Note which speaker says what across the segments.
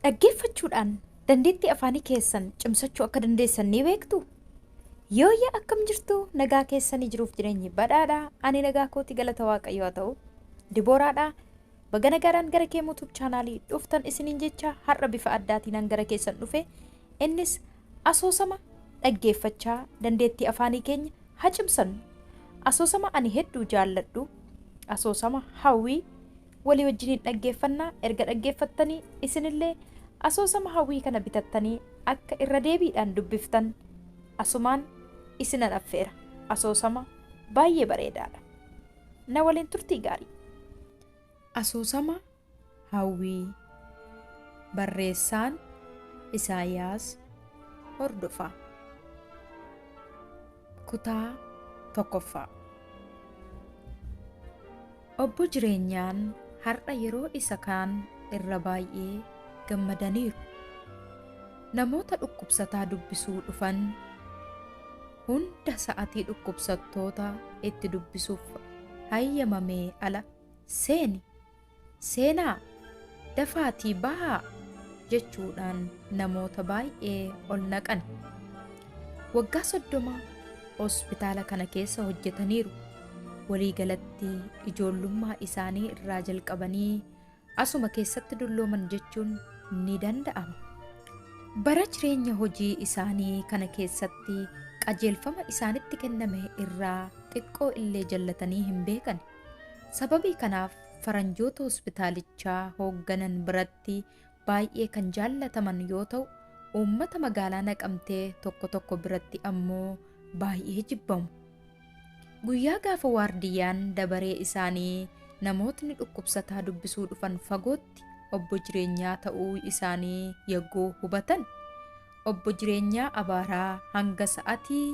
Speaker 1: Dhaggeeffachuudhaan dandeettii afaanii keessan cimsachuu akka dandeessan ni beektu? Yooyya akkam jirtu nagaa keessanii jiruuf jireenyi badhaadha ani nagaa kooti galata waaqayyo haa ta'u dibooraadha baga nagaadhaan gara kee muutuub chaanaalii dhuftan isiniin jecha har'a bifa addaatiin gara keessan dhufe innis asoosama dhaggeeffachaa dandeettii afaanii keenya haa cimsannu asoosama ani hedduu jaalladhu asoosama hawwii Walii wajjiniin dhaggeeffanna, erga dhaggeeffattanii isinillee asoosama Hawwii kana bitattanii akka irra deebiidhaan dubbiftan asumaan isinan affeera. Asoosama baay'ee bareedaadha. Na waliin turtii gaarii! Asoosama Hawwii Barreessaan Isaayaas Hordofaa. Kutaa tokkoffaa. Obbo Jireenyaan har'a yeroo isa kaan irra baay'ee gammadaniiru. Namoota dhukkubsataa dubbisuu dhufan hunda sa'atii dhukkubsattoota itti dubbisuuf hayyamamee ala seeni Seenaa! Dafaatii bahaa! jechuudhaan namoota baay'ee ol naqan. Waggaa 30 hospitaala kana keessa hojjetaniiru. Walii galatti ijoollummaa isaanii irraa jalqabanii asuma keessatti dullooman jechuun ni danda'ama. Bara jireenya hojii isaanii kana keessatti qajeelfama isaanitti kenname irraa xiqqoo illee jallatanii hin beekani. Sababii kanaaf faranjoota hospitaalichaa hoogganan biratti baay'ee kan jaallataman yoo ta'u, uummata magaalaa Naqamtee tokko tokko biratti ammoo baay'ee jibbamu. Guyyaa gaafa waardiyyaan dabaree isaanii namootni dhukkubsataa dubbisuu dhufan fagootti obbo jireenyaa ta'uu isaanii yagguu hubatan obbo jireenyaa abaaraa hanga sa'atii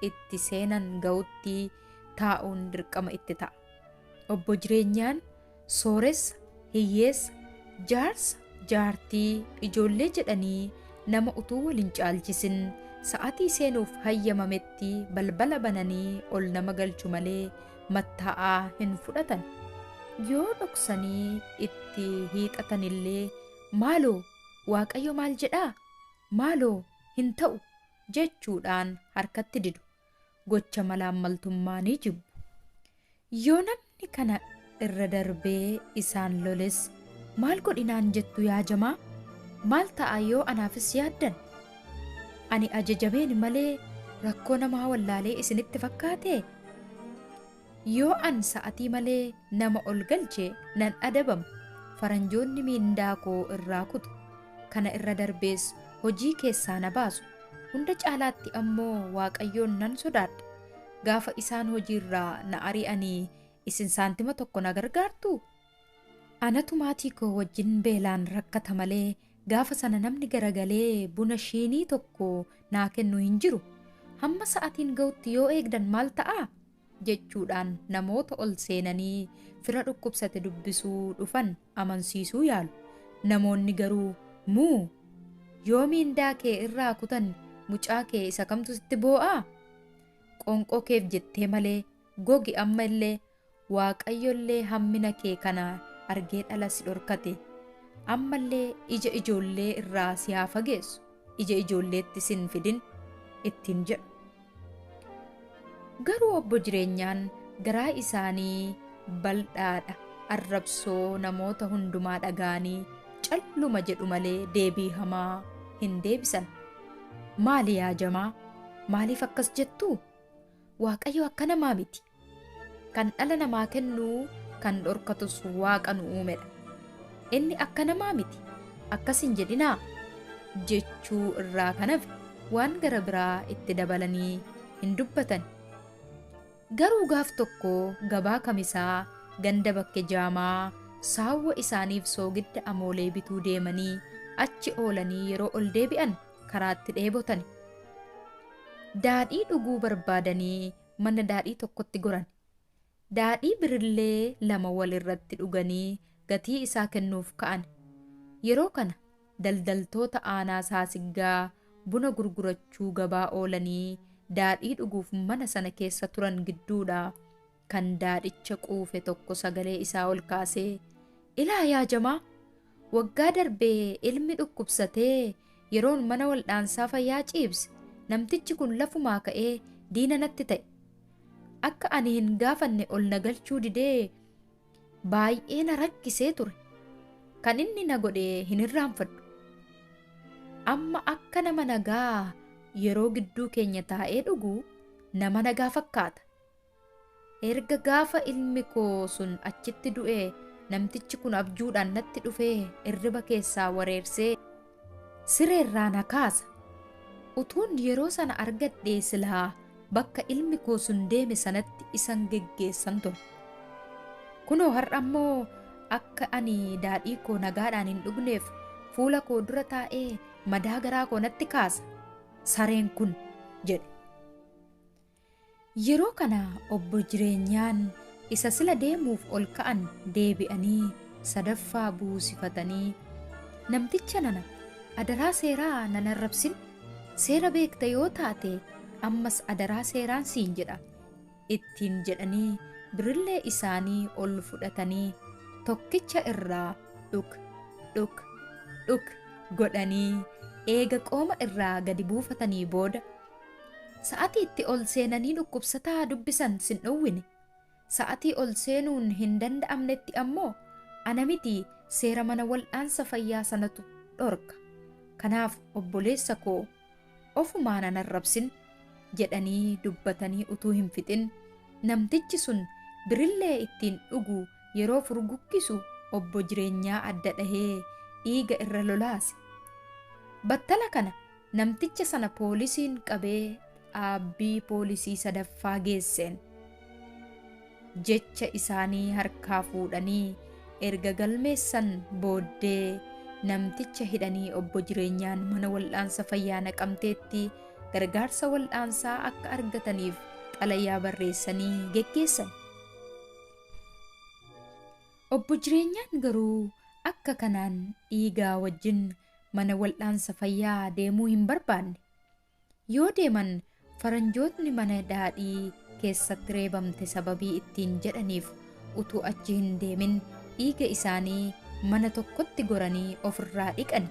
Speaker 1: itti seenan ga'utti taa'uun dirqama itti ta'a. Obbo Jireenyaan sooressa, hiyyeessa, jaarsa, jaartii, ijoollee jedhanii nama utuu wal hin caalchisin sa'atii seenuuf hayyamametti balbala bananii ol nama galchu malee mattaa'aa hin fudhatan. Yoo dhoksanii itti hiixatanillee maaloo waaqayyo maal jedhaa? Maaloo hin ta'u jechuudhaan harkatti didu. gocha malaammaltummaa ni jibbu. Yoo namni kana irra darbee isaan loles maal godhinaan jettu yaa jamaa? Maal ta'a yoo anaafis yaaddan? Ani ajajameen malee rakkoo namaa wallaalee isinitti fakkaatee? Yoo an sa'atii malee nama ol galche nan adabama, faranjoonni miindaa koo irraa kutu, kana irra darbees hojii keessaa na baasu, hunda caalaatti ammoo Waaqayyoon nan sodaadha. Gaafa isaan hojiirraa na ari'anii isin saantima tokko na gargaartuu? Anatu maatii koo wajjin beelaan rakkata malee gaafa sana namni garagalee buna shiinii tokko naa kennu hin jiru. Hamma sa'atiin ga'utti yoo eegdan maal ta'a? jechuudhaan namoota ol seenanii fira dhukkubsate dubbisuu dhufan amansiisuu yaalu. Namoonni garuu muu yoo miindaa kee irraa kutan mucaa kee isa kamtu sitti boo'aa? Qoonqoo keef jettee malee gogi amma illee Waaqayyollee hammina kee kana argee dhala si dhorkate. Ammallee ija ijoollee irraa si haa fageessu, ija ijoolleetti si hin fidin ittiin jedhu. Garuu obbo Jireenyaan garaa isaanii baldhaadha, arrabsoo namoota hundumaa dhaga'anii calluma jedhu malee deebii hamaa hin deebisan. Maali yaa jamaa? Maaliif akkas jettuu? Waaqayyo akka namaa miti. Kan dhala namaa kennu, kan dhorkatus Waaqa nu uumedha. Inni akka namaa miti, akkas hin jedhinaa! jechuu irraa kan hafe waan gara biraa itti dabalanii hin dubbatan. Garuu gaaf tokko gabaa kamisaa ganda bakke jaamaa saawwa isaaniif soogidda amoolee bituu deemanii achi oolanii yeroo ol deebi'an karaatti dheebotani. Daadhii dhuguu barbaadanii mana daadhii tokkotti goran. Daadhii birillee lama wal irratti dhuganii gatii isaa kennuuf ka'an. Yeroo kana daldaltoota aanaa saasiggaa buna gurgurachuu gabaa oolanii daadhii dhuguuf mana sana keessa turan gidduudha kan daadhicha quufe tokko sagalee isaa ol kaasee ilaa yaa jamaa Waggaa darbe ilmi dhukkubsatee yeroon mana waldhaansaa fayyaa ciibse namtichi kun lafumaa ka'ee diina natti ta'e. Akka ani hin gaafanne ol na galchuu didee baay'ee na rakkisee ture. Kan inni na godhe hin irraanfadhu. Amma akka nama nagaa yeroo gidduu keenya taa'ee dhugu nama nagaa fakkaata. Erga gaafa ilmi koo sun achitti du'ee namtichi kun abjuudhaan natti dhufee irriba keessaa wareersee sireerraa na kaasa. Utuun yeroo sana argadhee silaa bakka ilmi koo sun deeme sanatti isan geggeessan ture. Kunoo har'a immoo akka ani daadhii koo nagaadhaan hin dhugneef fuula koo dura taa'ee madaa garaa koo natti kaasa. Sareen kun jedhe. Yeroo kana Obbo Jireenyaan isa sila deemuuf ol ka'an deebi'anii sadaffaa buusifatanii, Namticha nana, adaraa seeraa nan arrabsin, seera beekta yoo taate ammas adaraa seeraan siin jedha ittiin jedhanii birrillee isaanii ol fudhatanii tokkicha irraa dhuk, dhuk, dhuk godhanii eega qooma irraa gadi buufatanii booda, Sa'atii itti ol seenanii dhukkubsataa dubbisan sin dhowwine. Sa'atii ol seenuun hin danda'amnetti ammoo ana miti seera mana wal'aansa fayyaa sanatu dhorka. Kanaaf obboleessa koo ofumaa nan arrabsin jedhanii dubbatanii utuu hin fixin namtichi sun birillee ittiin dhugu yeroo furguggisu obbo Jireenyaa adda dhahee dhiiga irra lolaase. Battala kana Namticha sana poolisiin qabee dhaabbii poolisii sadaffaa geesseen. Jecha isaanii harkaa fuudhanii erga galmeessan booddee namticha hidhanii obbo Jireenyaan mana wal'aansa fayyaa Naqamteetti gargaarsa wal'aansaa akka argataniif xalayaa barreessanii geggeessan. Obbo Jireenyaan garuu akka kanaan dhiigaa wajjin mana wal'aansa fayyaa deemuu hin barbaanne. Yoo deeman faranjootni mana daadhii keessatti reebamte sababii ittiin jedhaniif utuu achi hin deemin dhiiga isaanii mana tokkotti goranii ofirraa dhiqani.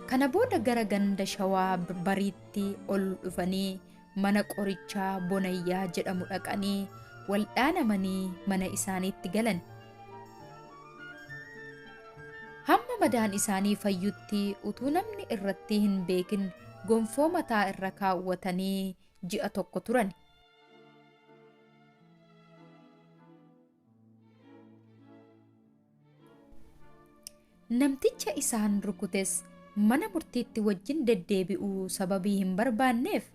Speaker 1: Kana booda gara ganda shawaa bariitti ol dhufanii mana qorichaa Bonayyaa jedhamu dhaqanii waldhaanamanii mana isaaniitti galan. Hamma madaan isaanii fayyutti utuu namni irratti hin beekin gonfoo mataa irra kaawwatanii ji'a tokko turan. Namticha isaan rukutes mana murtiitti wajjin deddeebi'uu sababii hin barbaanneef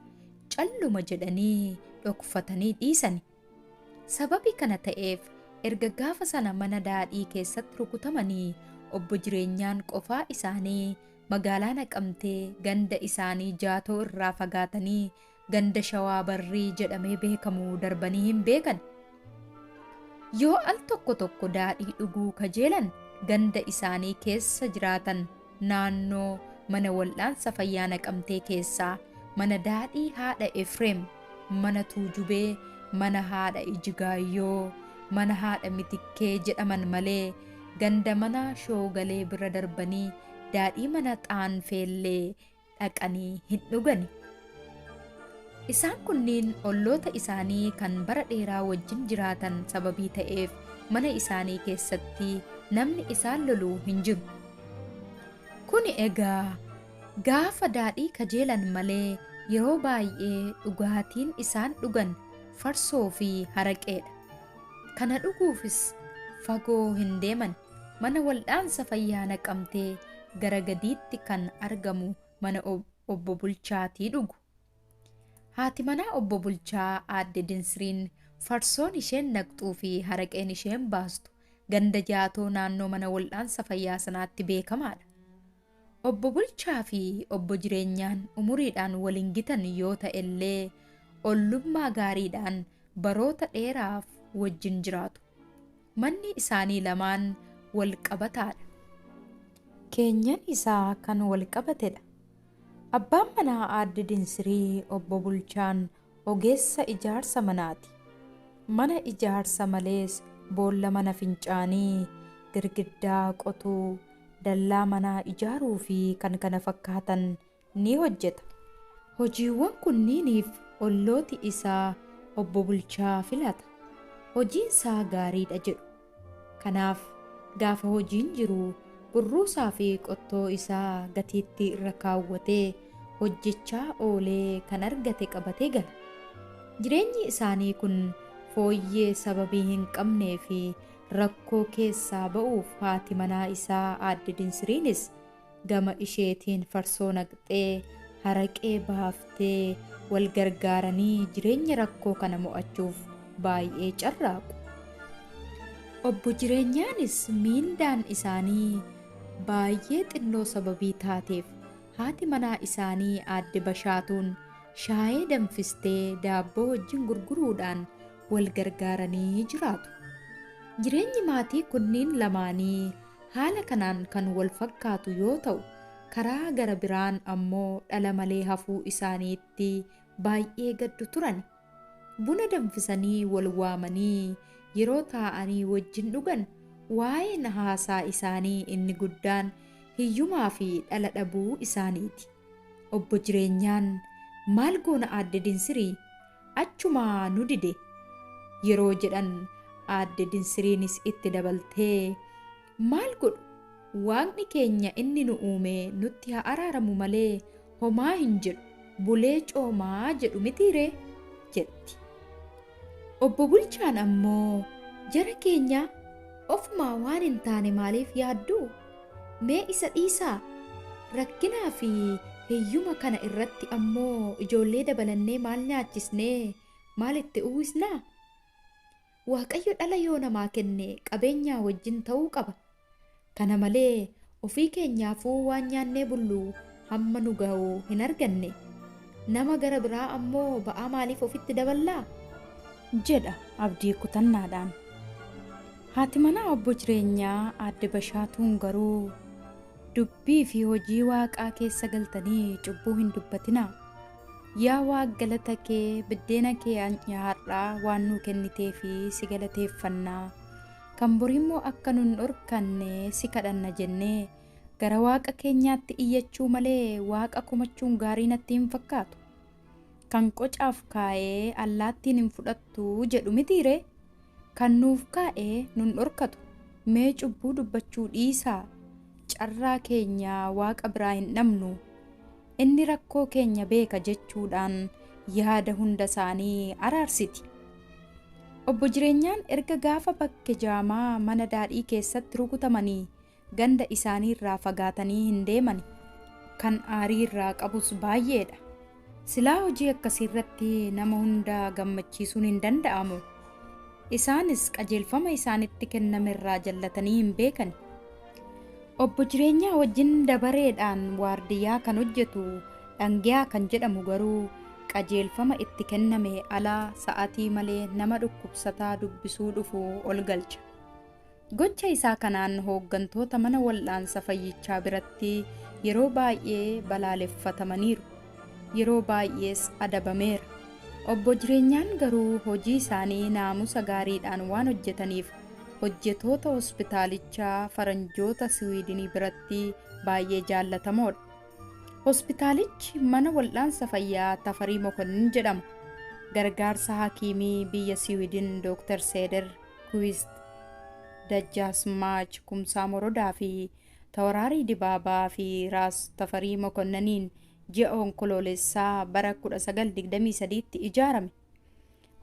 Speaker 1: calluma jedhanii dhokfatanii dhiisani. Sababii kana ta'eef erga gaafa sana mana daadhii keessatti rukutamanii obbo jireenyaan qofaa isaanii magaalaa naqamtee ganda isaanii jaatoo irraa fagaatanii ganda Shawaa Barrii jedhamee beekamu darbanii hin beekan. Yoo al tokko tokko daadhii dhuguu kajeelan ganda isaanii keessa jiraatan naannoo mana wal'aansa fayyaa Naqamtee keessaa mana daadhii haadha Efreem, mana Tuujubee, mana haadha Ijigaayyoo, mana haadha Mitikkee jedhaman malee ganda mana Shoogalee bira darbanii daadhii mana Xaanfeellee dhaqanii hin dhugani. Isaan kunniin olloota isaanii kan bara dheeraa wajjin jiraatan sababii ta'eef mana isaanii keessatti namni isaan lolu hin jiru. Kuni egaa gaafa daadhii kajeelan malee yeroo baay'ee dhugaatiin isaan dhugan farsoo fi haraqeedha. Kana dhuguufis fagoo hin deeman. Mana Waldhaansa Fayyaa Naqamtee gara gadiitti kan argamu mana Obbo Bulchaati dhugu. Haati manaa Obbo Bulchaa Aadde Dinsiriin farsoon isheen naqxuu fi haraqeen isheen baastu ganda Jaatoo naannoo mana waldhaansa fayyaa sanaatti beekamaadha. Obbo Bulchaa fi Obbo Jireenyaan umuriidhaan wal hin gitan yoo ta'ellee ollummaa gaariidhaan baroota dheeraaf wajjin jiraatu. Manni isaanii lamaan wal qabataadha. Keenyan isaa kan wal qabatedha. Abbaan manaa Aadde Dinsirii Obbo Bulchaan Ogeessa ijaarsa manaati. Mana ijaarsa malees boolla mana fincaanii, girgiddaa qotuu, dallaa manaa ijaaruu fi kan kana fakkaatan ni hojjeta. Hojiiwwan kunniiniif ollooti isaa obbo Bulchaa filata. Hojiin isaa gaariidha jedhu. Kanaaf gaafa hojiin jiru burruusaa fi qottoo isaa gatiittii irra kaawwatee hojjechaa oolee kan argate qabatee gala. Jireenyi isaanii kun fooyyee sababii hin qabnee fi rakkoo keessaa ba'uuf haati manaa isaa Aadde Dinsiriinis Gama isheetiin farsoo naqxee, haraqee baaftee wal gargaaranii jireenya rakkoo kana mo'achuuf baay'ee carraaqu. Obbo Jireenyaanis miindaan isaanii baay'ee xinnoo sababii taateef haati manaa isaanii Aadde Bashaatuun shaayee danfistee daabboo wajjin gurguruudhaan wal gargaaranii jiraatu. Jireenyi maatii kunniin lamaanii Haala kanaan kan wal fakkaatu yoo ta'u, karaa gara biraan ammoo dhala malee hafuu isaaniitti baay'ee gaddu turani. Buna danfisanii wal waamanii yeroo taa'anii wajjin dhugan waa'een haasaa isaanii inni guddaan hiyyumaa fi dhala dhabuu isaaniiti. Obbo Jireenyaan, Maal goona Aadde Dinsirii? Achumaa nu dide! yeroo jedhan Aadde Dinsiriinis itti dabaltee, Maal godhu, Waaqni keenya inni nu uume nutti haa araaramu malee homaa hin jedhu, bulee coomaa jedhu mitii ree? jetti. Obbo Bulchaan ammoo, Jara keenya ofumaa waan hin taane maaliif yaaddu? Mee isa dhiisaa! Rakkinaa fi hiyyuma kana irratti ammoo ijoollee dabalannee maal nyaachisnee maal itti uwwisnaa? Waaqayyo dhala yoo namaa kenne qabeenyaa wajjin ta'uu qaba. Kana malee ofii keenyaafuu waan nyaannee bullu hamma nu ga'u hin arganne. Nama gara biraa ammoo ba'aa maaliif ofitti daballaa? jedha Abdii kutannaadhaan. Haati manaa Obbo Jireenyaa Aadde Bashaatuun garuu, Dubbii fi hojii Waaqaa keessa galtanii cubbuu hin dubbatinaa. Yaa Waaq galata kee biddeena kee an'ya har'aa waan nuu kenniteef si galateeffanna, kan boriimmoo akka nun dhorkanne si kadhanna jennee gara Waaqa keenyaatti iyyachuu malee Waaqa komachuun gaarii natti hin fakkaatu. Kan qocaaf kaa'ee allaattiin hin fudhattu jedhu mitiiree? Kan nuuf kaa'e nun dhorkatu. Mee cubbuu dubbachuu dhiisaa. Carraa keenya Waaqa biraa hin dhabnu. Inni rakkoo keenya beeka jechuudhaan yaada hunda isaanii araarsiti. Obbo Jireenyaan erga gaafa Bakke Jaamaa mana daadhii keessatti rukutamanii Ganda isaaniirraa fagaatanii hin deemani. Kan aarii irraa qabus baay'eedha. Silaa hojii akkasiirratti nama hunda gammachiisuun hin danda'amu. Isaanis qajeelfama isaanitti kennamerraa jallatanii hin beekani. Obbo Jireenyaa wajjin dabareedhaan waardiyyaa kan hojjetu Dhangiyaa kan jedhamu garuu qajeelfama itti kennamee ala sa'atii malee nama dhukkubsataa dubbisuu dhufu ol galcha. Gocha isaa kanaan hooggantoota mana wal'aansa fayyichaa biratti yeroo baay'ee balaaleffatamaniiru. Yeroo baay'ees adabameera. Obbo Jireenyaan garuu hojii isaanii naamusa gaariidhaan waan hojjetaniif hojjetoota hospitaalichaa faranjoota Siwiidinii biratti baay'ee jaallatamoodha. Hospitaalichi mana wal'aansa fayyaa Tafarii Mokonnin jedhama. Gargaarsa hakiimii biyya Siwiidin Dooktar Seeder Twist, Dajjaasmaach Kumsaa Morodaa fi Tawaraarii Dibaabaa fi Raas Tafarii Mokonnaniin ji'a Onkoloolessaa bara 1923tti ijaarame.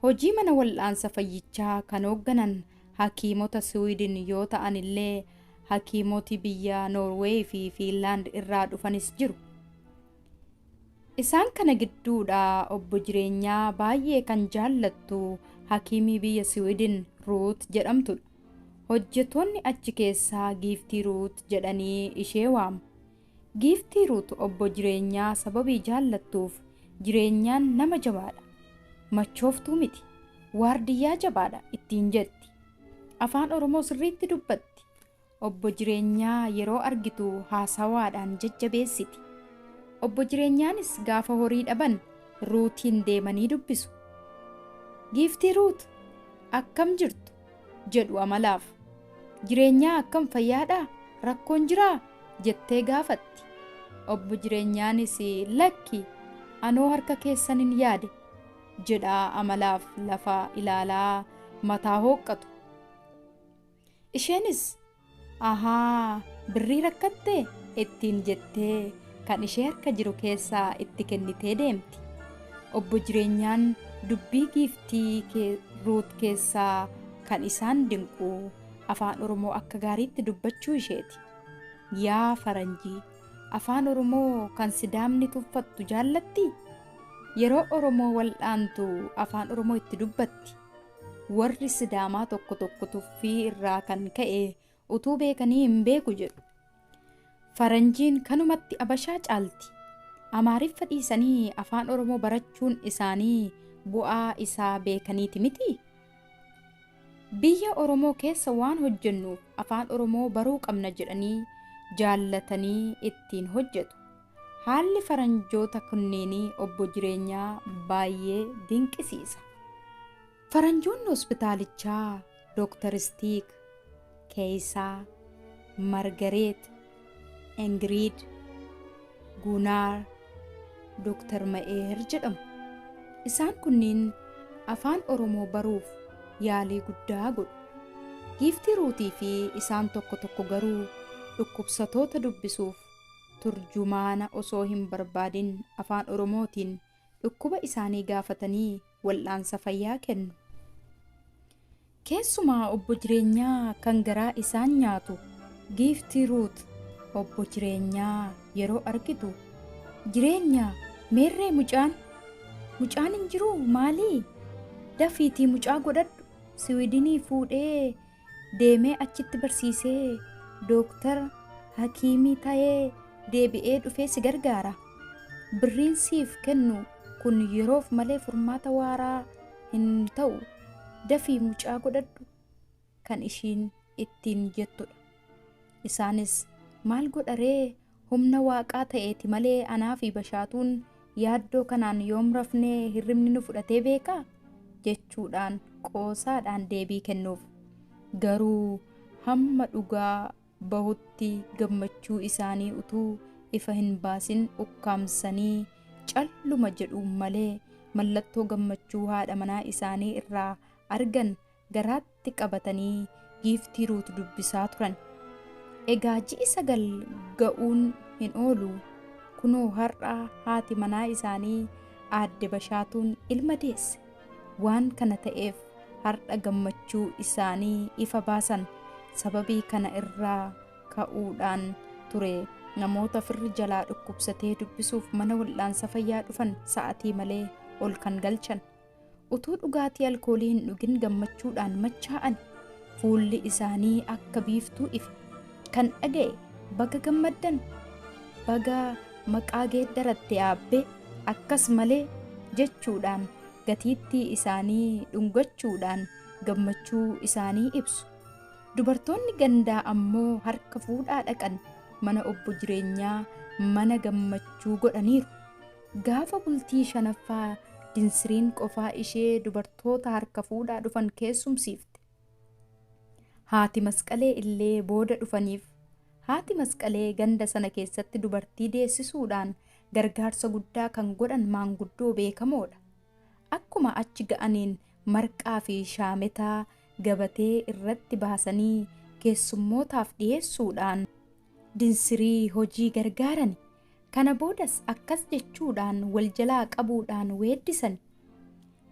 Speaker 1: Hojii mana wal'aansa fayyichaa kan hoogganan hakiimota Siwiidin yoo ta'an illee hakiimoti biyya Noorweey fi Fiinlaand irraa dhufanis jiru. Isaan kana gidduudhaa obbo Jireenyaa baay'ee kan jaallattu hakiimii biyya Siwidin Ruut jedhamtudha. Hojjetoonni achi keessaa Giiftii Ruut jedhanii ishee waamu. Giiftii Ruut obbo Jireenyaa sababii jaallattuuf Jireenyaan nama jabaadha. Machooftuu miti. Waardiyyaa jabaadha ittiin jetti. Afaan Oromoo sirriitti dubbatti. Obbo Jireenyaa yeroo argitu haasawaadhaan jajjabeessiti. Obbo Jireenyaanis gaafa horii dhaban Ruutiin deemanii dubbisu. Giiftii Ruut! Akkam jirtu? jedhu amalaaf. Jireenyaa akkam fayyaadhaa? Rakkoon jiraa? jettee gaafatti. Obbo Jireenyaanis lakki anoo harka keessanin yaade jedhaa amalaaf lafa ilaalaa mataa hooqqatu. Isheenis ahaa birrii rakkatte ittiin jettee kan ishee harka jiru keessaa itti kennitee deemti. Obbo Jireenyaan dubbii giiftii kee Ruut keessaa kan isaan dinqu afaan Oromoo akka gaariitti dubbachuu isheeti. Yaa faranjii afaan Oromoo kan Sidaamni tuffattu jaallattii? Yeroo Oromoo wal'aantu afaan Oromoo itti dubbatti. Warri Sidaamaa tokko tokko tuffii irraa kan ka'e utuu beekanii hin beeku jedhu. Faranjiin kanumatti Abashaa caalti. Amaariffa dhiisanii afaan Oromoo barachuun isaanii bu'aa isaa beekaniiti miti. Biyya Oromoo keessa waan hojjennuuf afaan Oromoo baruu qabna jedhanii jaallatanii ittiin hojjetu. Haalli faranjoota kunneenii Obbo Jireenyaa baayyee dinqisiisa. Faranjoonni hospitaalichaa Doktar Istiik, Keeyisaa, Margareet, Ingiriid, Guunaar, Doktar Ma'eer jedhamu. Isaan kunniin Afaan Oromoo baruuf yaalii guddaa godhu. Giiftii Ruutii fi isaan tokko tokko garuu dhukkubsatoota dubbisuuf turjumaana osoo hin barbaadin Afaan Oromootiin dhukkuba isaanii gaafatanii wal'aansa fayyaa kennu. Keessumaa Obbo Jireenyaa kan garaa isaan nyaatu Giiftii Ruut Obbo Jireenyaa yeroo argitu Jireenya meerree mucaan mucaan hin jiruu maalii dafiitii mucaa godhadhu Siwiidinii fuudhee deemee achitti barsiisee dooktar hakiimii ta'ee deebi'ee dhufee si gargaara birriin siif kennu kun yeroof malee furmaata waaraa hin ta'u dafii mucaa godhadhu kan ishiin ittiin jettudha isaanis maal godharee Humna Waaqaa ta'eeti malee anaa fi Bashaatuun yaaddoo kanaan yoom rafnee hirribni nu fudhatee beekaa? jechuudhaan qoosaadhaan deebii kennuuf. Garuu hamma dhugaa bahutti gammachuu isaanii utuu ifa hin baasin ukkaamsanii calluma jedhu malee mallattoo gammachuu haadha manaa isaanii irraa argan garaatti tti qabatanii giiftii Ruut dubbisaa turan. Egaa ji'i sagal ga'uun hin oolu. Kunoo har'a haati manaa isaanii aadde Bashaatuun ilma deesse. Waan kana ta'eef har'a gammachuu isaanii ifa baasan. Sababii kana irraa ka'uudhaan ture namoota firri jalaa dhukkubsatee dubbisuuf mana wal'aansa fayyaa dhufan sa'atii malee ol kan galchan. Utuu dhugaatii alkoolii hin dhugin gammachuudhaan machaa'an. Fuulli isaanii akka biiftuu ife. Kan dhaga'e baga gammaddan, baga maqaa geeddaratte aabbee, akkas malee jechuudhaan gatiittii isaanii dhungachuudhaan gammachuu isaanii ibsu. Dubartoonni gandaa ammoo harka fuudhaa dhaqan mana obbo jireenyaa mana gammachuu godhaniiru. Gaafa bultii shanaffaa Dinsiriin qofaa ishee dubartoota harka fuudhaa dhufan keessumsiifte. Haati Masqalee illee booda dhufaniif. Haati Masqalee ganda sana keessatti dubartii deessisuudhaan gargaarsa guddaa kan godhan maanguddoo beekamoodha. Akkuma achi ga'aniin marqaa fi shaametaa gabatee irratti baasanii keessummootaaf dhiyeessuudhaan Dinsirii hojii gargaarani. Kana boodas akkas jechuudhaan wal jalaa qabuudhaan weeddisan,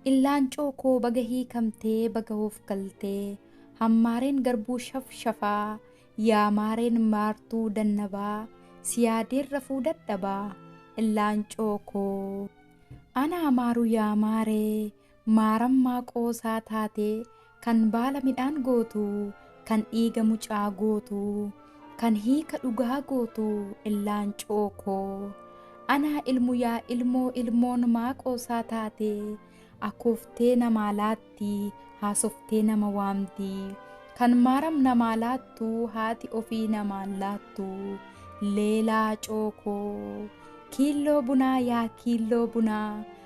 Speaker 1: Illaancoo koo baga hiikamtee baga hoof galtee Hammaareen garbuu shaf shafaa Yaa maareen maartuu dannabaa Si yaadeen rafuu dadhabaa Illaancoo koo Anaa maaru yaa maaree Maarammaa qoosaa taate, kan baala midhaan gootu, kan dhiiga mucaa gootu, kan hiika dhugaa gootu Illaancoo koo. Anaa ilmu yaa ilmoo ilmoon maa qoosaa taate, akooftee namaa laatti, haasoftee nama waamti. Kan maaram namaa laattu haati ofii namaan laattu. Leelaacoo koo. Kiilloo bunaa yaa kiilloo bunaa.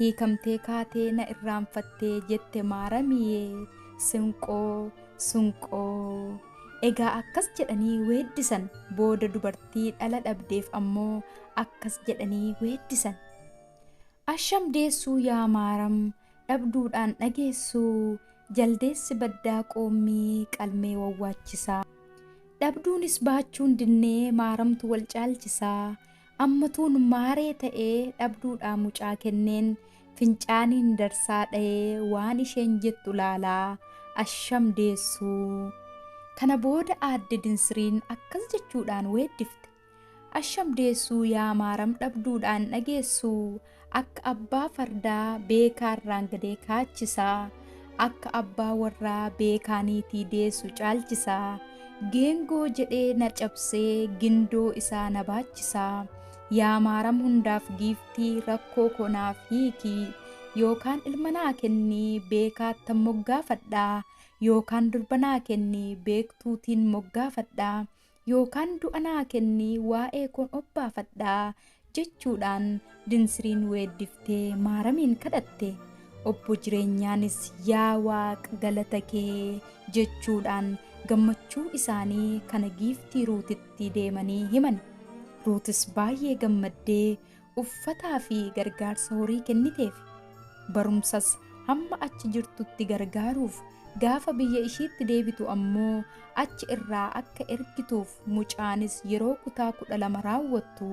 Speaker 1: Hiikamtee kaatee na irraanfattee jette maaramiyee sinqoo sunqoo. Egaa akkas jedhanii weeddisan booda dubartii dhala dhabdeef ammoo akkas jedhanii weeddisan. Asham deessuu yaa maaram dhabduudhaan dhageessuu jaldeessi baddaa qoommii qalmee wawwaachisaa. Dhabduunis baachuun dinnee maaramtu wal caalchisaa. Ammatuun maaree ta'ee dhabduudhaa mucaa kenneen fincaaniin darsaa dhayee waan isheen jettu laalaa asham deessuu. Kana booda aadde Dinsiriin akkas jechuudhaan weeddifte. Asham deessuu yaa maaram dhabduudhaan dhageessuu. Akka abbaa fardaa beekaa irraan gadee kaachisa, akka abbaa warraa beekaa niitii deessu caalchisa. Geengoo jedhee na cabsee gindoo isaa na baachisa. Yaa maaram hundaaf giiftii rakkoo koo naaf hiiki. Yookaan ilma naa kenni beekaattan moggaafadha. Yookaan durba naa kenni beektuutiin moggaafadha. yookaan du'a naa kenni waa'ee koon obbaafadha jechuudhaan Dinsiriin weeddiftee Maaramiin kadhatte. Obbo Jireenyaanis yaa Waaq galata kee jechuudhaan gammachuu isaanii kana giiftii Ruutitti deemanii himani. Ruutis baay'ee gammaddee uffataa fi gargaarsa horii kenniteef, barumsas hamma achi jirtutti gargaaruuf, gaafa biyya ishiitti deebitu ammoo achi irraa akka ergituuf mucaanis yeroo kutaa 12 raawwattu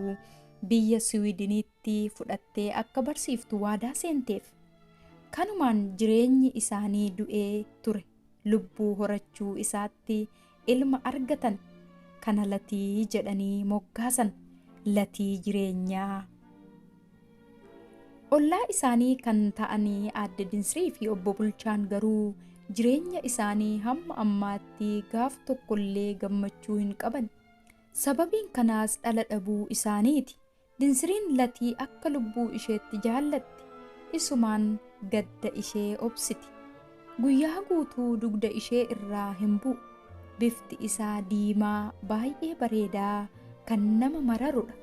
Speaker 1: biyya Siwiidiniitti fudhattee akka barsiiftu waadaa seenteef. Kanumaan jireenyi isaanii du'ee ture lubbuu horachuu isaatti ilma argatan kana latii jedhanii moggaasan latii jireenyaa. Ollaa isaanii kan ta'anii aadde Dinsrii fi obbo Bulchaan garuu jireenya isaanii hamma ammaatti gaaf tokkollee gammachuu hin qaban. Sababiin kanaas dhala dhabuu isaaniiti. Dinsiriin Latii akka lubbuu isheetti jaallatti. Isumaan gadda ishee obsiti. Guyyaa guutuu dugda ishee irraa hin bu'u. Bifti isaa diimaa baay'ee bareedaa kan nama mararu dha.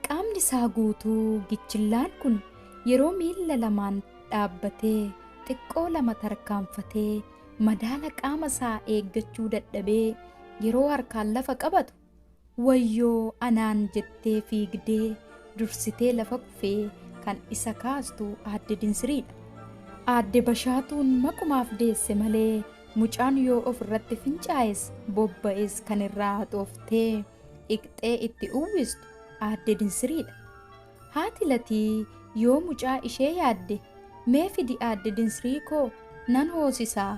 Speaker 1: Qaamni isaa guutuu gichillaan kun yeroo miilla lamaan dhaabbatee xiqqoo lama tarkaanfatee madaala qaama isaa eeggachuu dadhabee yeroo harkaan lafa qabatu Wayyoo anaan jettee fiigdee dursitee lafa kufee kan isa kaastu Aadde Dinsiriidha. Aadde Bashaatuun maqumaaf deesse malee mucaan yoo of irratti fincaa'es bobba'es kan irraa haxooftee dhiqxee itti uwwistu Aadde Dinsiriidha. Haati Latii yoo mucaa ishee yaadde mee fidi Aadde Dinsiriikoo nan hoosisaa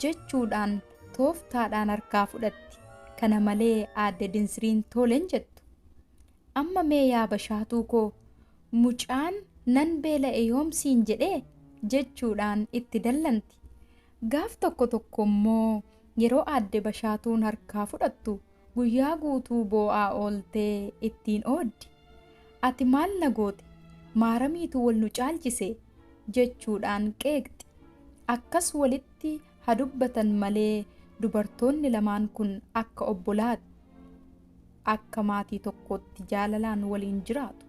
Speaker 1: jechuudhaan tooftaadhaan harkaa fudhatti. Kana malee Aadde Dinsriin toolen jettu. Amma mee yaa Bashaatuu koo mucaan nan beela'e yoom siin jedhee? jechuudhaan itti dallanti. Gaaf tokko tokko immoo yeroo Aadde Bashaatuun harkaa fudhattu guyyaa guutuu boo'aa ooltee ittiin ooddi. Ati maal na goote? Maaramiitu wal nu caalchise? jechuudhaan qeeqxi. Akkas walitti ha dubbatan malee dubartoonni lamaan kun akka obbolaati. Akka maatii tokkootti jaalalaan waliin jiraatu.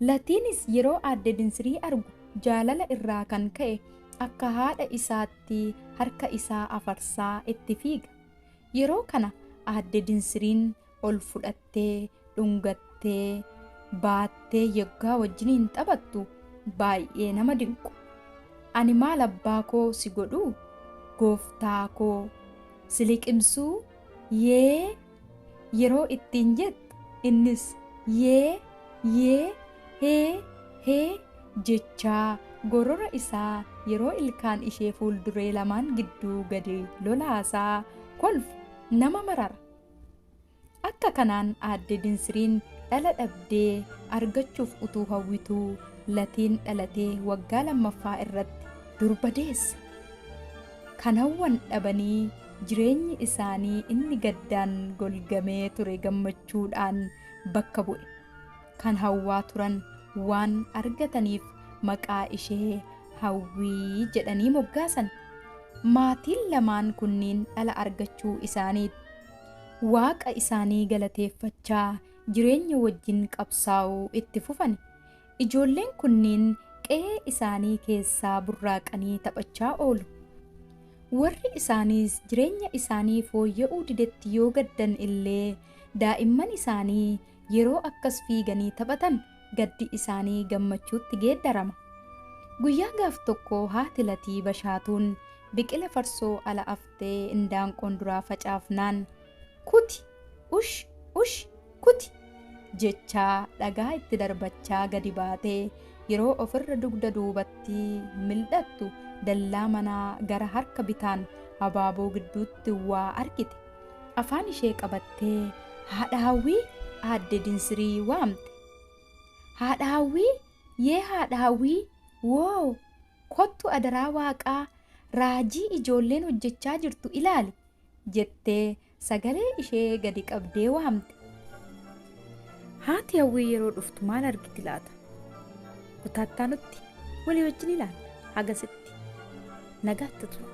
Speaker 1: Latiinis yeroo aadde Dinsirii argu jaalala irraa kan ka'e akka haadha isaatti harka isaa afarsaa itti fiiga. Yeroo kana aadde Dinsiriin ol fudhattee, dhungattee, baattee yoggaa wajjiniin taphattu baay'ee nama dinqu. Ani maal abbaa koo si godhuu? Gooftaa koo si liqimsuu? Yee! yeroo ittiin jettu innis yee! yee! hee! hee! jechaa gorora isaa yeroo ilkaan ishee fuulduree lamaan gidduu gadi lolaasaa kolfu nama marara. Akka kanaan Aadde Dinsiriin dhala dhabdee argachuuf utuu hawwituu Latiin dhalatee waggaa lammaffaa irratti durba deesse. Kan hawwan dhabanii jireenyi isaanii inni gaddaan golgamee ture gammachuudhaan bakka bu'e. kan hawwaa turan waan argataniif maqaa ishee Hawwii jedhanii moggaasan. Maatiin lamaan kunniin dhala argachuu isaaniit Waaqa isaanii galateeffachaa jireenya wajjin qabsaa'uu itti fufan. Ijoolleen kunniin qe'ee isaanii keessaa burraaqanii taphachaa oolu. Warri isaaniis jireenya isaanii fooyya'uu didetti yoo gaddan illee daa'imman isaanii yeroo akkas fiiganii taphatan gaddi isaanii gammachuutti geeddarama. Guyyaa gaaf tokko haati Latii Bashaatuun biqila farsoo ala aftee indaanqoon duraa facaafnaan Kuti! Ush! Ush! Kuti! jechaa dhagaa itti darbachaa gadi baatee yeroo ofirra dugda duubatti mil'attu dallaa manaa gara harka bitaan abaaboo gidduutti waa argite. Afaan ishee qabattee haadha Hawwii aadde Dinsirii waamte. Haadha Hawwii yee haadha Hawwii woo kottu adaraa Waaqaa raajii ijoolleen hojjechaa jirtu ilaali jettee sagalee ishee gadi qabdee waamte. Haati Hawwii yeroo dhuftu maal argiti laata? Kutaattaa nutti walii wajjin ilaalla hagasitti nagaatti tura.